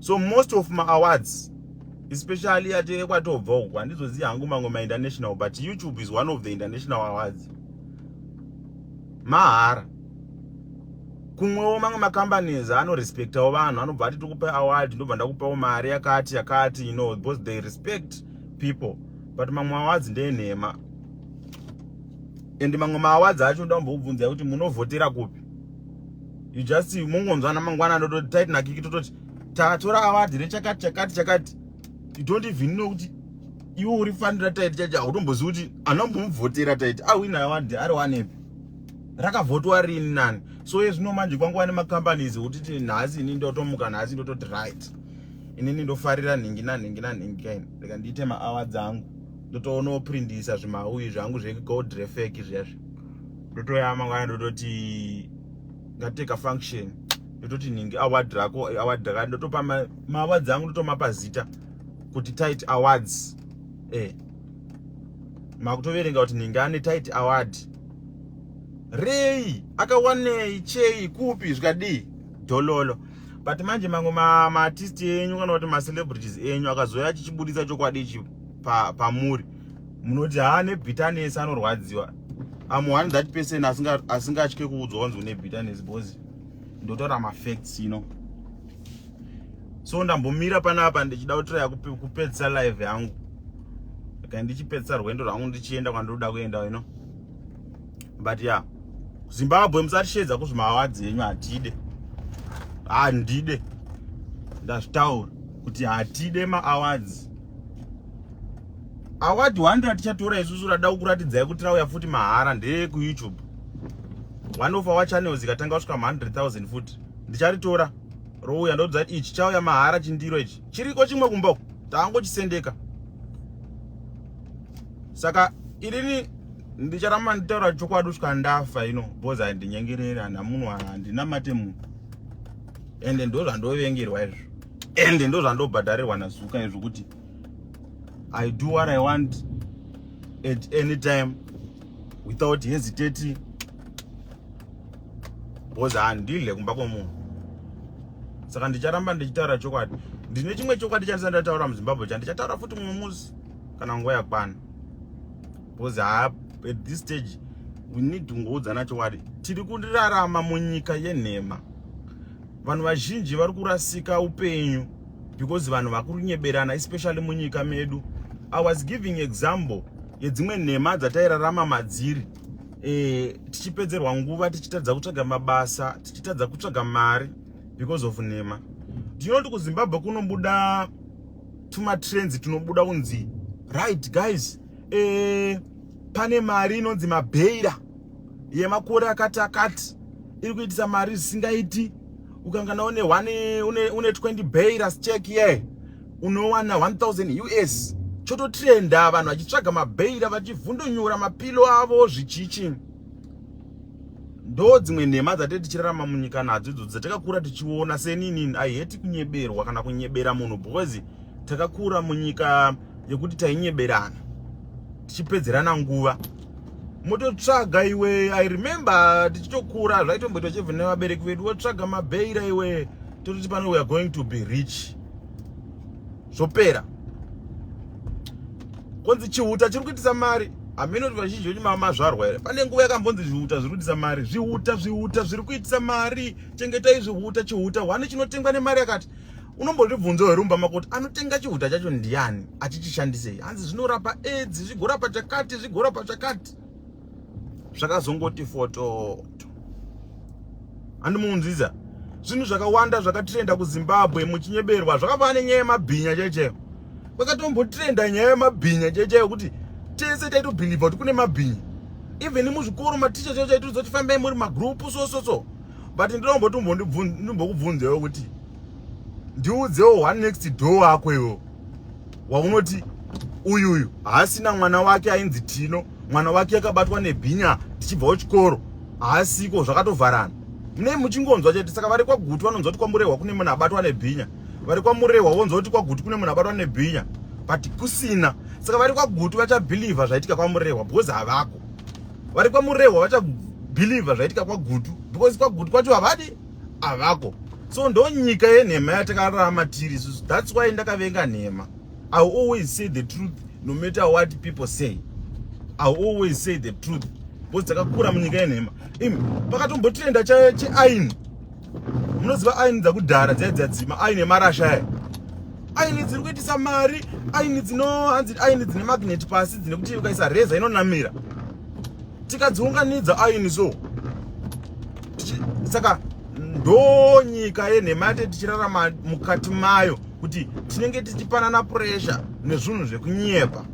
So most of my awards especially yateve kwatobva uku handizoziva hangu mamwe mainternational but youtube is one of the international awards mahara kumwewo mamwe macompanies anorespectawo vanhu anobva ati tikupe award ndobva ndakupawo mari yakati yakati you know because they respect people but mamwe awards ndenhema and mamwe maawards acho ndambokubvunzai kuti munovhotera kupi you just mungonzwana mangwana ndototi taitinakiki tototi tatora award rechakati chakati chakati you don't even know kuti iwe uri fanira taiti chacho hautombozivi kuti anombomuvhotera taiti awina award ari wanepi rakavhotwa rini nani so ye zvino manje kwanguva nemacompanies wotiti nhasi ini ndotomuka nhasi ndototi right inini ndofarira nhingi nanhingi nanhingi kaini reka ndiite maawa dzangu ndotoonawo prindisa zvimauyi zvangu zvegold refek zviyazvi ndotoyama kwana ndototi ngate ka function ndototi nhingi award rako award raka ndotopa maawards angu ndotomapa zita kuti tight awards eh makutoverenga kuti nhingi ane tight award rei akawanei chei kupi zvikadii dololo but manje mamwe maartist enyu kana kuti macelebrities enyu akazouya achichibudisa chokwadi ichi pamuri pa munoti haa nebitterness anorwadziwa am one that person asingatye kuudzwa wanzi une bitterness because ndotaura mafacts ino so ndambomira panapa ndichida kutiraya kupedzisa live yangu ka ndichipedzisa rwendo rwangu ndichienda kwandoda kuenda ino but ya yeah. zimbabwe musatishedza kuzvimawadzi yenyu hatide handide ndazvitaura kuti hatide maawards award 100 tichatora isusu rada kukuratidzai kuti rauya futi mahara ndeye kuyoutube one of our channels ikatanga kusvika ma 100000 futi ndicharitora rouya ndodza kuti ichi chauya mahara chindiro ichi chiriko chimwe kumba uku taangochisendeka saka irini ndicharamba nditaura chokwadi kusvika ndafa ino bcause handinyengereri handina munhu handina mate munhu ende ndozvandovengerwa izvo ende ndozvandobhadharirwa nazuka izvo kuti i do what i want at any time without hesitating because handidle kumba kwemunhu saka ndicharamba ndichitaura chokwadi ndine chimwe chokwadi chandisa ndataura muzimbabwe cha ndichataura futi mumwe musi kana nguva yakwana because ha at this stage we need kungoudzana chokwadi tiri kurarama munyika yenhema Vanhu vazhinji vari kurasika upenyu because vanhu vakurunyeberana especially munyika medu. I was giving example yedzimwe nhema dzatairarama madziri eh, tichipedzerwa nguva tichitadza kutsvaga mabasa tichitadza kutsvaga mari because of nhema ndinoti kuzimbabwe kunobuda tumatrends tunobuda kunzi right guys e, pane mari inonzi mabheira yemakore akati akati iri kuitisa mari zvisingaiti ukangana une one une, une 20 bairas check ye yeah. unowana 1000 us chototrenda vanhu vachitsvaga mabhaira vachivhundonyura mapilo avo zvichichi ndo dzimwe nhema dzatee tichirarama munyika nadzo idzo dzatakakura tichiona seninini i hate kunyeberwa kana kunyebera munhu because takakura munyika yekuti tainyeberana tichipedzerana nguva mototsvaga iwe i remember tichitokura zvaitomboitwa chebve nevabereki vedu wotsvaga mabeira iwe tototi pano weare going to be rich zvopera konzi chihuta chiri kuitisa mari hameno kuti vazhinji vedu mamazvarwa here pane nguva yakambonzi zvihuta zviri kuitisa mari zvihuta zvihuta zviri kuitisa mari chengetai zvihuta chihuta hwani chinotengwa nemari yakati unombozvibvunzo here mumba mako kuti anotenga chihuta chacho ndiani achichishandisei hanzi zvinorapa aids zvigorapa chakati zvigorapa chakati zvakazongoti fototo handimunzwiza zvinhu zvakawanda zvakatirenda kuzimbabwe muchinyeberwa zvakava nenyaya yemabhinya chaichayo kwakatombotirenda nyaya yemabhinya chaichayo kuti tese taitobhilivha kuti kune mabhinya even muzvikoro maticha chaicho aitiridzoti fambai muri magroup so so so but ndinomboti ndimbokubvunzewo kuti ndiudzewo one next door wako iwo waunoti uyu uyu haasina mwana wake ainzi tino mwana wake akabatwa nebhinya tichibvawo chikoro haasiko zvakatovharana munei muchingonzwa chete saka vari kwagutu vanonzwa kuti kwamurehwa kune munhu abatwa nebhinya vari kwamurehwa vonzwa kuti kwagutu kune munhu abatwa nebhinya but kusina saka vari kwagutu vachabhilivha zvaitika kwamurehwa because havako vari kwamurehwa vachabhilivha zvaitika kwagutu because kwagutu kwacho havadi avako so ndo nyika yenhema yatakararama tiri isusu thats why ndakavenga nhema i always say the truth no matter what people say i always say the truth bcause dzakakura munyika yenhema im pakatombotrenda cheaini munoziva aini dzakudhara dzai dzadzima aini emarasha aya aini dziri kuitisa mari aini dzino hanzi aini dzine magnet pasi dzine kuti ukaisa reza inonamira tikadziunganidza aini so saka ndonyika yenhema yate tichirarama mukati mayo kuti tinenge tichipanana puresha nezvinhu zvekunyepa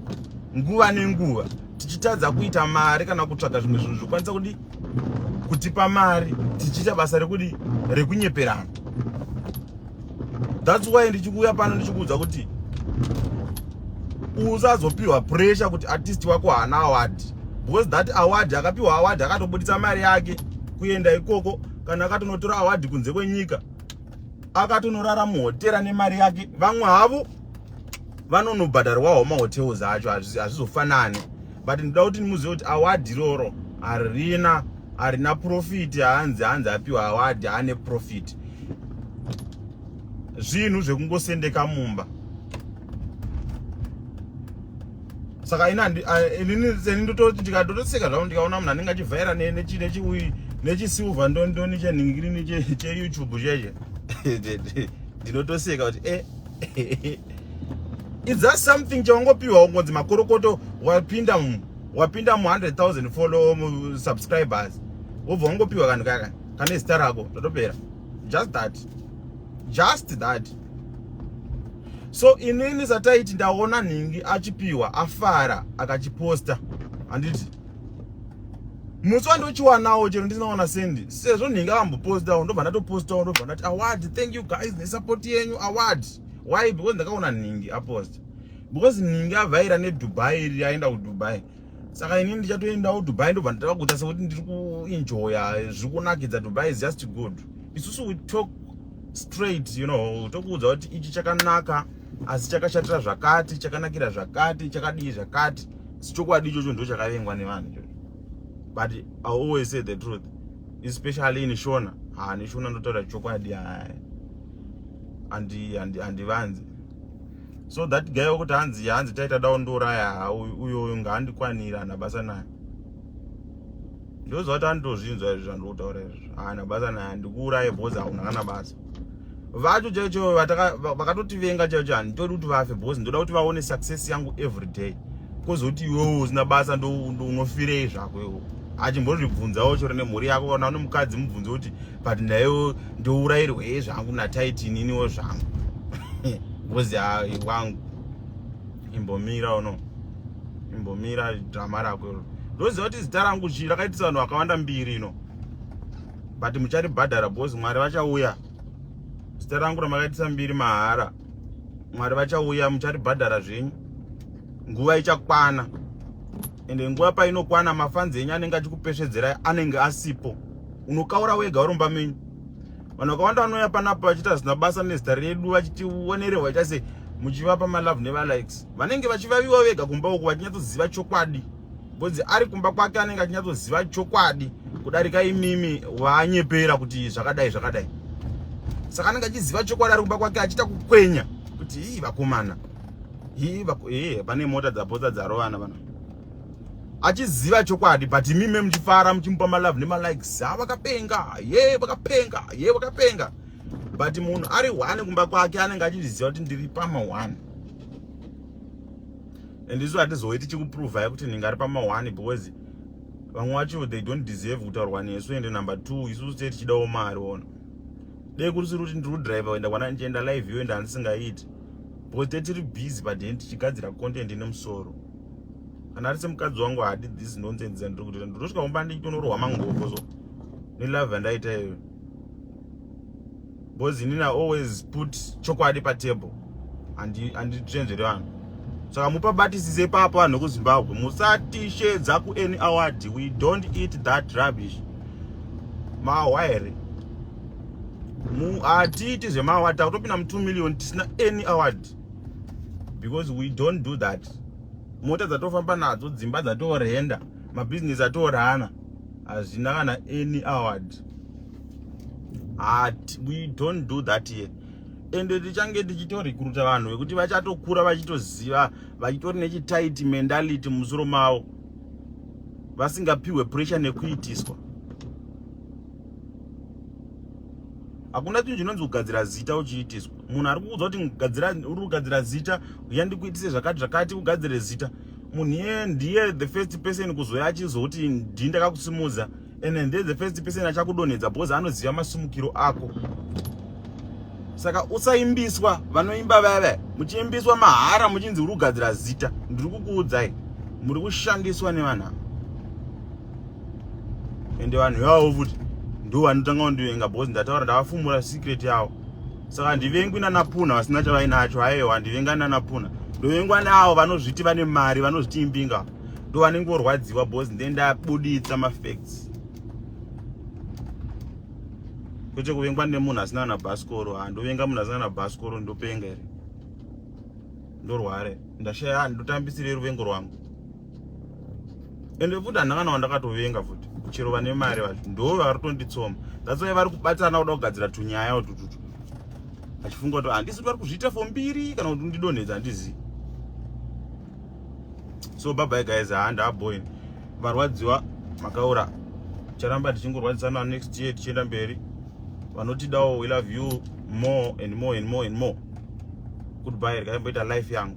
nguva nenguva tichitadza kuita mari kana kutsvaga zvimwe zvinhu zvokwanisa kudi kutipa mari tichiita basa rekudi rekunyeperana that's why ndichikuuya pano ndichikuudza kuti usazopiwa pressure kuti artist wako haana award because that award akapiwa award akatobuditsa mari yake kuenda ikoko kana akatonotora award kunze kwenyika akatonorara muhotera nemari yake vamwe havo vanonobhadharwawo mahotels acho hazvizofanani but ndoda kuti ndimuzive kuti award iroro harina harina profit hanzi hanzi apiwa award ane profit zvinhu zvekungosendeka mumba saka inini ndototi ndikatotoseka zvavo ndikaona munhu anenge achivhaira nechiui nechisilver ndondoni chenhingirini cheyoutube cheche ndinotoseka kuti e eh, eh, eh, It's just something chaungopiwa ungonzi makorokoto wapinda mu wapinda mu 100,000 follow mu subscribers. Wobva ungopiwa kanhu kaka kane zita rako ndotopera. Just that. Just that. So inini sataiti ndaona nhingi achipiwa afara akachiposta handiti musi wandochiwanawo chero ndisinaona sendi sezvo nhingi avambopostawo ndobva ndatopostawo ndobva ndati award thank you guys nesupport yenyu award why because ndakaona nhingi aposta because nhingi avhaira nedubai iri aenda kudubai saka ini ndichatoendawo dubai ndobva ndatava kuita sekuti ndiri kuenjoya zviri kunakidza dubai is just good isusu we talk straight you know tokuudza kuti ichi chakanaka asi chakashatira zvakati chakanakira zvakati chakadii zvakati sichokwadi ichocho ndo chakavengwa nevanhu ichocho but i always say the truth especially in shona ha neshona ndotaura chokwadi haa andi andi andivanzi so that guy wekuti hanzi hanzi taita dawo ndiuraya uyoyo ngaandikwanira ana basa naye ndozvati anditozvinzwa izvi zvandikutaura izvi haana basa naye andikuuraye bhozi hauna kana basa vacho chaicho vakatotivenga chaicho handitodi kuti vafe bhozi ndoda kuti vaone success yangu every day kozoti iwewo usina basa ndounofireyi zvako iwo achimbozvibvunzawo chori nemhuri yako kana une mukadzi mubvunze kuti but ndaiwo ndourayirwa ye zvangu nataiti ininiwo zvangu bcoz wangu imbomira uno imbomira drama rako iro ndoziva kuti zita rangu chii rakaitisa vanhu vakawanda mbiri ino but mucharibhadhara bcoz mwari vachauya zita rangu ramakaitisa mbiri mahara mwari vachauya mucharibhadhara zvenyu nguva ichakwana ende nguva painokwana mafanzi enyu anenge achikupesvedzerai anenge asipo unokaura wega uromba menyu vanhu vakawanda vanouya panapo vachiita zvisina basa nezita redu vachitionerehwa ita se muchivapa malove nevalikes vanenge vachivaviwa vega kumba uku vachinyatsoziva chokwadi bcause ari kumba kwake anenge achinyatsoziva chokwadi kudarika imimi waanyepera kuti zvakadai zvakadai saka anenge achiziva chokwadi ari kumba kwake achiita kukwenya kuti ii vakomana hii hii pane mota dzapotsa dzarovana vana achiziva chokwadi but imime muchifara muchimupa malove nemalikes ha ah, vakapenga ye vakapenga ye vakapenga but munhu ari one kumba kwake anenge achizviziva kuti ndiri pama one and isu hatizouye tichikuprova yekuti ndinge ari pama one because vamwe vacho they don't deserve kutaurwa nesu ende number two isusu tee tichidawo mari ona dai kurisiri kuti ndiri kudriver kuenda kwana ndichienda live iyo ende handisingaiti because te tiri busy paden tichigadzira content ine musoro kana ari semukadzi wangu hadi this nonsense dzandiri kutoita ndotosvika kumba ndichitonorohwa mangoko so nelove yandaita iyoyo because inini always put chokwadi patable anditenzvere vanhu saka mupabatisise ipapo vanhu vekuzimbabwe musatishedza kuany award we don't eat that rubbish mahwa here hatiiti zvemahwa takutopinda mu2 million tisina any award because we don't do that mota dzatofamba nadzo dzimba dzatorenda mabhizinesi atorana hazvina kana any award At, we don't do that here ende tichange tichitorekruta vanhu vekuti vachatokura vachitoziva vachitori nechitaiti mentality mumusoro mavo vasingapiwe pressure nekuitiswa hakuna chinhu chinonzi kugadzira zita uchiitiswa munhu ari kuudza kuti uri kugadzira zita uya ndikuitise zvakati zvakati ugadzire zita munhu iye ndiye the first person kuzouya achizouti ndii ndakakusimudza and then the first person achakudonhedza because anoziva masumukiro ako saka usaimbiswa vanoimba vaya vaya muchiimbiswa mahara muchinzi uri kugadzira zita ndiri kukuudzai muri kushandiswa nevanhu ava ende vanhu ivavo futi ndo vanotanga kundivenga because ndataura ndavafumura secret yavo saka handivengwi nanapuna vasina chavainacho haiwa handivenga nanapuna ndovengwa neavo vanozviti vane mari vanozviti imbinga ndo vanenge vorwadziwa bos nde ndabuditsa mafacts kwete kuvengwa nemunhu asina na baskoro ha ndovenga munhu asina na baskoro ndopenga here ndorware ndashaya ndotambisire ruvengo rwangu ende futi handanga nawo ndakatovenga futi chero vane mari vacho ndo vari tonditsoma that's why vari kubatana kuda kugadzira tunyaya utututu achifunga kuti handisi kuti vari kuzviita fo mbiri kana kuti ndidonhedza handizivi so bye bye guys haa ndaboin varwadziwa makaura charamba tichingorwadzisana next year tichienda mberi vanotidawo we love you more and more and more and more goodbye rikaimboita life yangu